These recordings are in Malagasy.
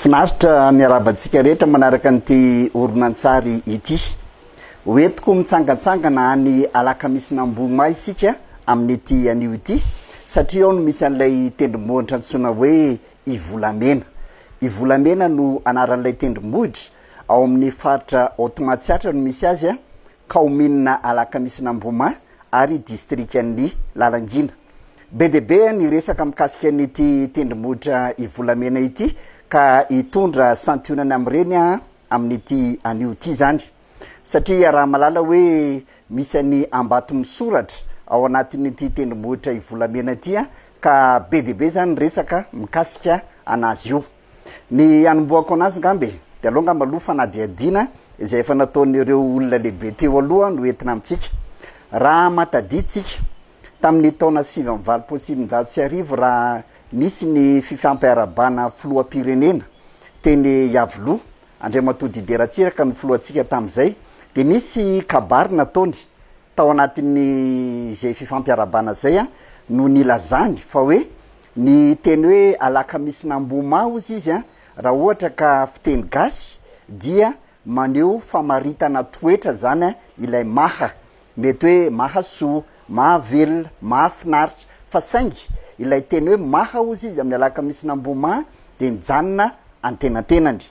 Finaritra miarahaba antsika rehetra manaraka an'ity horonantsary ity. Ho entiko mitsangantsangana any Alakamisin'Ambohimà isika amin'ity anio ity satria ao no misy an'ilay tendrombohitra antsoina hoe Ivolamena. Ivolamena no anaran'ilay tendrombohitra, ao amin'ny faritra Haute Matsiatra no misy azy kaominina Alakamisin'Amboma ary distrikan'i Lalangina. Be dia be ny resaka mikasika an'ity tendrombohitra Ivolamena ity ka hitondra santionany amin'ireny amin'ity anio ity izany satria iaraha-malala hoe misy an'i Ambato misoratra ao anatin'ity tendrombohitra Ivolamena ity ka be dia be izany ny resaka mikasika an'azy io. Ny hanombohako anazy ngamba e, dia aleo ngamba aloha fanadihadiana izay efa nataon'ireo olona lehibe teo aloha no entina amintsika. Raha matadintsika, tamin'ny taona sivy amby valopolo sy sivinjato sy arivo raha nisy ny fifampiarahabana filoham-pirenena teny Iavoloha, Andriamatoa Didier Ratsiraka no filohantsika tamin'izay, dia nisy kabary nataony tao anatin'izay fifampiarahabana izay no nilazany fa hoe, Ny teny hoe alakamisin'Ambohimaha ozy izy an, raha ohatra ka fiteny gasy dia maneho famaritana toetra zany an ilay maha. Mety hoe mahasoa, mahavelona, mahafinaritra. Fa saingy ilay teny hoe maha ozy izy amin'ny alakamisin'Ambohimaha dia nijanona antenantenany.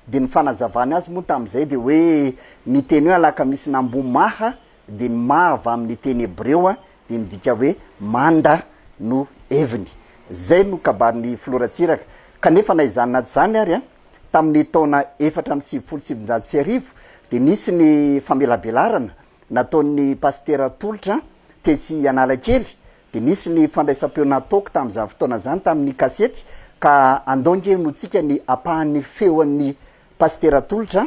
Dia ny fanazavany azy moa tamin'izay dia hoe ny teny hoe alakamisin'Ambohimaha dia ma avy amin'ny teny hebreo dia midika hoe manda no heviny. Izay no kabarin'ny Filoha Ratsiraka. Kanefa na izany na tsy izany ary, tamin'ny taona efatra amby sivifolo sy sivinjato sy arivo dia nisy ny famelabelarana nataon'ny pasitera tolotra tetsy Analakely, dia nisy ny fandraisam-peo nataoko tamin'izany fotoana izany tamin'ny kasety ka andao ange honotsika ny apahan'ny feon'ny pasitera tolotra.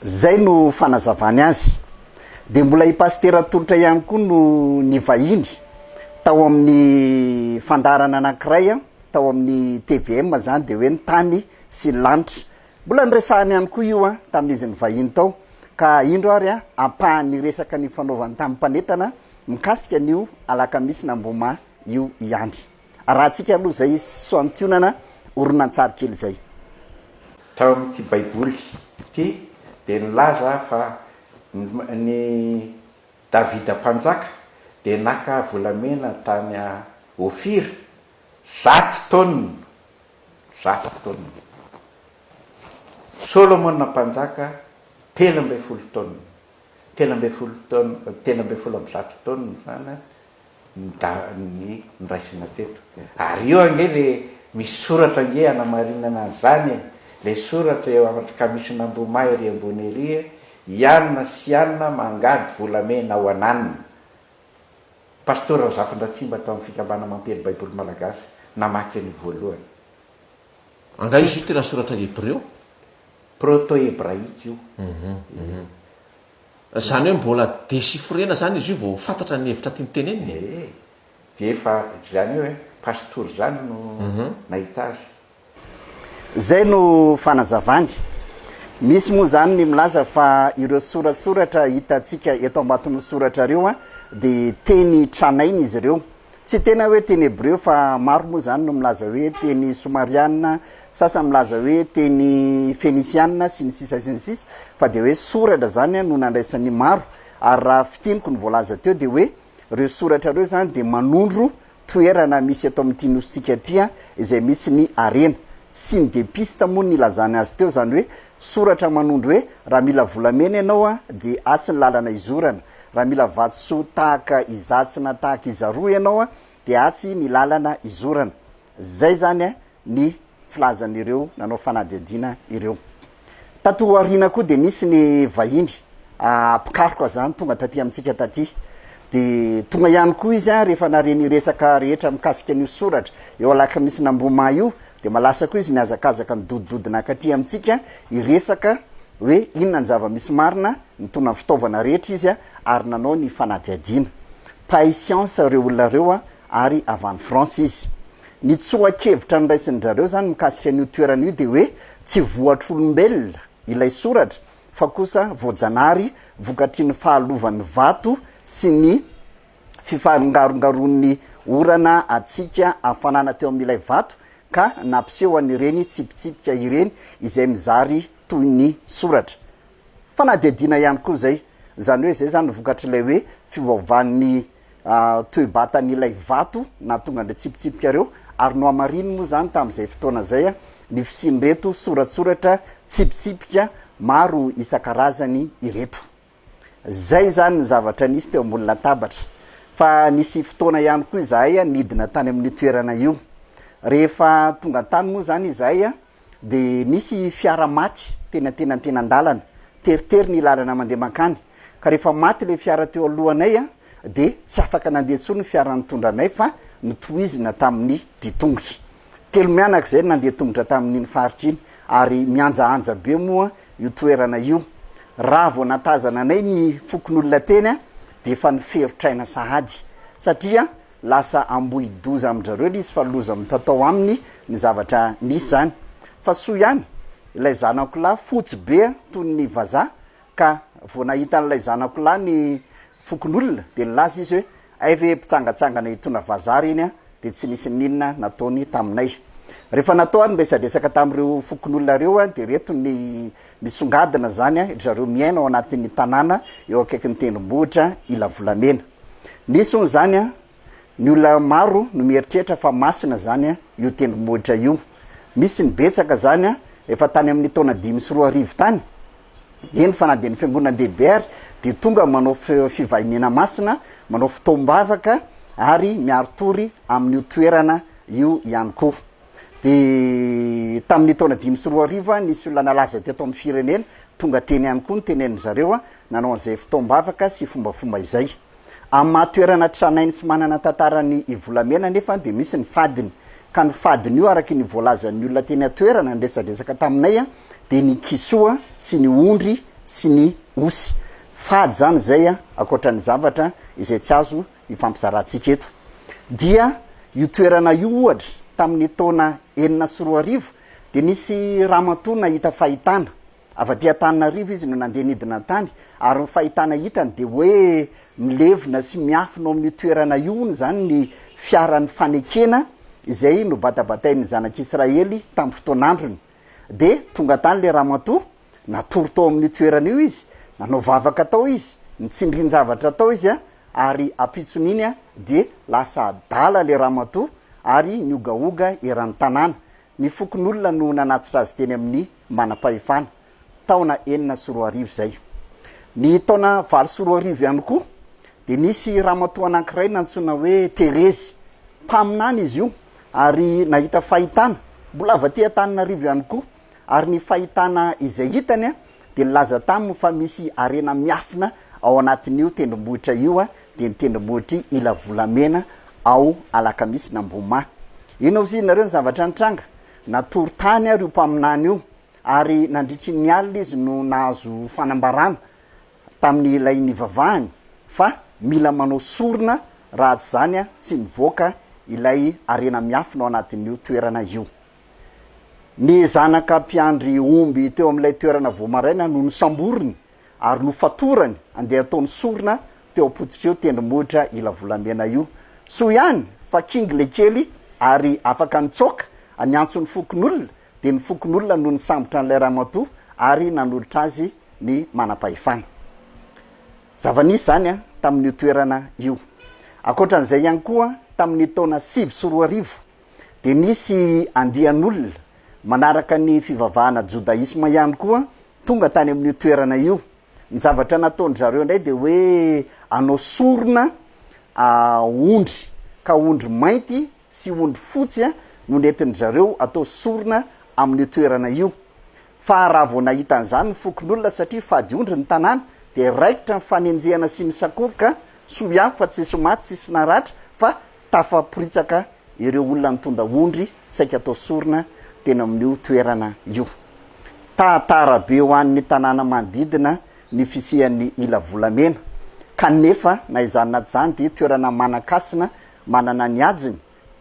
Izay no fanazavany azy. Dia mbola i Pasitera Tolotra ihany koa no nivahiny tao amin'ny fandaharana anankiray tao amin'ny tvm izany dia hoe ny tany sy ny lanitra. Mbola niresahany ihany koa io tamin'izy nivahiny tao. Ka indro ary ampahan'ny resaka nifanaovany tamin'ny mpanentana mikasika an'io alakamisy na mboma io ihany. Arahantsika aloha izay santionana horonantsary kely izay. Tao amin'ity Baiboly ity dia nilaza fa ny Davida Mpanjaka dia naka volamena tany Ofira zato taonina, zato taonina. Solomona Mpanjaka telo ambin'ny folo taonina, telo ambin'ny folo taonina, telo ambin'ny folo amby zato taonina izany an, ny dalin'ny noraisina teto. Ary io ange le misy soratra ange hanamarinana an'izany e! Le soratra eo amin'ny kamisin'Ambohimahy ery ambony ery e, Ianona sy Ianona mangady volamena ho an'Anona. Pasteur Razafindratsimba tao amin'ny Fikambana Mampiely Baiboly Malagasy namaky an'io voalohany. Angaha izy io tena soratra hebreo? Proto-hebraika io. Zany hoe mbola dechiffrena zany izy io vao fantatra ny hevitra tiany tenenina e! Ee, dia efa zany hoe pasitoro zany no nahita azy. Zay no fanazavany. Misy moa zany ny milaza fa ireo soratsoratra hitantsika eto ambaton'ny soratra reo dia teny tranainy izy ireo. Tsy tena hoe teny hebreo fa maro moa izany no milaza hoe teny somarianina, sasany milaza hoe teny fenisianina sy ny sisa sy ny sisa fa dia hoe soratra izany no nandraisan'ny maro ary raha fintiniko ny voalaza teo dia hoe ireo soratra ireo izany dia manondro toerana misy eto amin'ity nosintsika ity izay misy ny harena sy ny depiste moa ny ilazany azy teo izany hoe Soratra manondro hoe, raha mila volamena ianao an, dia atsy ny lalana izorana, raha mila vatosoa tahaka izatsy na tahaka izaroa ianao an, dia atsy ny lalana izorana. Izay izany an, ny filazan'ireo nanao fanadihadiana ireo. Tato aoriana koa dia nisy ny vahiny mpikaroka izany tonga taty amintsika taty. Dia tonga ihany koa izy an, rehefa nare ny resaka rehetra mikasika an'io soratra eo Alakamisina Ambohimaha io, Dia malasa koa izy mihazakazaka midodidodina ankaty amintsika hiresaka hoe inona ny zava-misy marina, nitondra ny fitaovana rehetra izy ary nanao ny fanadihadiana. Mpahay siansa ireo olona ireo ary avy any France izy. Ny tsoa-kevitra noraisin-dry zareo izany mikasika an'io toerana io dia hoe tsy voatr'olombelona ilay soratra fa kosa voajanahary vokatry ny fahalovan'ny vato sy ny fifarongarongaron'ny orana hatsiaka hafanana teo amin'ilay vato ka nampiseho an'ireny tsipitsipika ireny izay mizary toy ny soratra. Fanadihadiana ihany koa izay, izany hoe izay izany ny vokatr'ilay hoe fiovaovan'ny toe-batan'ilay vato nahatonga an'ireo tsipitsipika ireo, ary nohamariny moa izany tamin'izay fotoana izay ny fisian'ireto soratsoratra tsipitsipika maro isan-karazany ireto. Izay izany ny zavatra nisy teo ambony latabatra. Fa nisy fotoana ihany koa izahay nidina tany amin'io toerana io. Rehefa tonga tany moa izany izahay dia nisy fiara maty teny antenantenan-dalana. Teritery ny lalana mandeha mankany. Ka rehefa maty ilay fiara teo alohanay dia tsy afaka nandeha intsony ny fiara nitondra anay fa notohizina tamin'ny mpitongotra. Telo mianaka izay no nandeha tongotra tamin'iny faritra iny ary mihanjahanja be moa io toerana io. Raha vao nahatazana anay ny fokonolona teny dia efa niferotr'aina sahady satria lasa ambohidoza amin-dry zareo ilay izy fa loza mitatao aminy ny zavatra nisy izany. Fa soa ihany ilay zanako lahy fotsy be toy ny vazaha ka vao nahita an'ilay zanako lahy ny fokonolona dia nilaza izy hoe Hay ve mpitsangatsangana hitondra vazaha ary iny dia tsy nisy n'inona nataony taminay. Rehefa natao ary ny resadresaka tamin'ireo fokonolona ireo dia ireto ny nisongadina izany, ry zareo miaina ao anatin'ny tanàna eo akaikin'ny tendrombohitra Ilavolamena. Nisy hono izany ny olona maro no mieritreritra fa masina izany io tendrombohitra io. Misy ny betsaka izany efa tany amin'ny taona dimy sy roa arivo tany. Eny fa na dia ny fiangonandehibe ary dia tonga manao fivahiniana masina, manao fotoam-bavaka ary miari-tory amin'io toerana io ihany koa. Dia tamin'ny taona dimy sy roa arivo nisy olona nalaza teto amin'ny firenena, tonga teny ihany koa ny tenenin'izareo, nanao an'izay fotoam-bavaka sy fombafomba izay. Amin'ny maha toerana tranainy sy manana tantaran'i Ivolamena anefa dia misy ny fadiny. Ka ny fadin'io araka ny voalazan'ny olona teny an-toerana niresadresaka taminay dia ny kisoa sy ny ondry sy ny osy. Fady izany izay ankoatra ny zavatra izay tsy azo ifampizarantsika eto. Dia io toerana io ohatra tamin'ny taona enina sy roa arivo dia nisy ramatoa nahita fahitana. Avy aty Antananarivo izy no nandeha nidina an-tany ary ny fahitana hitany dia hoe milevina sy miafina ao amin'io toerana io hono izany ny fiaran'ny fanekena izay nobatabatain'ny zanak'Israely tamin'ny fotoan'androny. Dia tonga tany ilay ramatoa, natory tao amin'io toerana io izy, nanao vavaka tao izy, nitsindrin-javatra tao izy ary ampitson'iny dia lasa adala ilay ramatoa ary niogaoga eran'ny tanàna. Ny fokonolona no nanatitra azy teny amin'ny manam-pahefana, taona enina sy roa arivo izay. Ny taona valo sy roa arivo ihany koa dia nisy ramatoa anankiray nantsoina hoe Terezy. Mpaminany izy io ary nahita fahitana. Mbola avy aty Antananarivo ihany koa ary ny fahitana izay hitany. dia nilaza taminy fa misy harena miafina ao anatin'io tendrombohitra io, dia ny tendrombohitr'i Ilavolamena ao Alakamisy na Mboma. Inona hozy ianareo ny zavatra nitranga? Natory tany ary io mpaminany io, ary nandritry ny alina izy no nahazo fanambarana tamin'ilay nivavahany fa mila manao sorona raha tsy izany tsy mivoaka ilay harena miafina ao anatin'io toerana io. Ny zanaka mpiandry omby teo amin'ilay toerana vao maraina no nosamboriny ary nofatorany handeha hataony sorona teo am-pototry io tendrombohitra ila volamena io. Soa ihany fa kinga ilay kely ary afaka nitsoaka niantso ny fokonolona dia ny fokonolona no nisambotra an'ilay ramatoa ary nanolotra azy ny manam-pahefana. Zava-nisy izany tamin'io toerana io. Ankoatra an'izay ihany koa, tamin'ny taona sivy sy roa arivo, Dia nisy andian'olona manaraka ny fivavahana jodaisma ihany koa tonga tany amin'io toerana io. Ny zavatra nataon-dry zareo indray dia hoe hanao sorona ondry, ka ondry mainty sy ondry fotsy no nentin-dry zareo hatao sorona amin'io toerana io. Fa raha vao nahita an'izany ny fokonolona, satria fady ondry ny tanàna, dia raikitra ny fanenjehana sy ny sakoroka, soa ihany fa tsisy maty, tsisy naratra, fa Tafaporitsaka ireo olona nitondra ondry saika atao sorona teny amin'io toerana io. Tahatara be ho an'ny tanàna manodidina ny fisian'ny ila volamena, kanefa na izany na izany dia toerana manan-kasina manana ny hajiny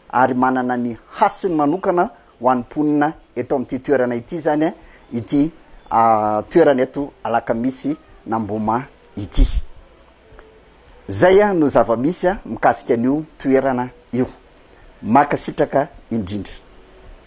ary manana ny hasiny manokana ho an'ny mponina eto amin'ity toerana ity izany ity toerana eto Alakamisy n'Amboma ity. Zay no zava-misy mikasika an'io toerana io. Mankasitraka indrindra.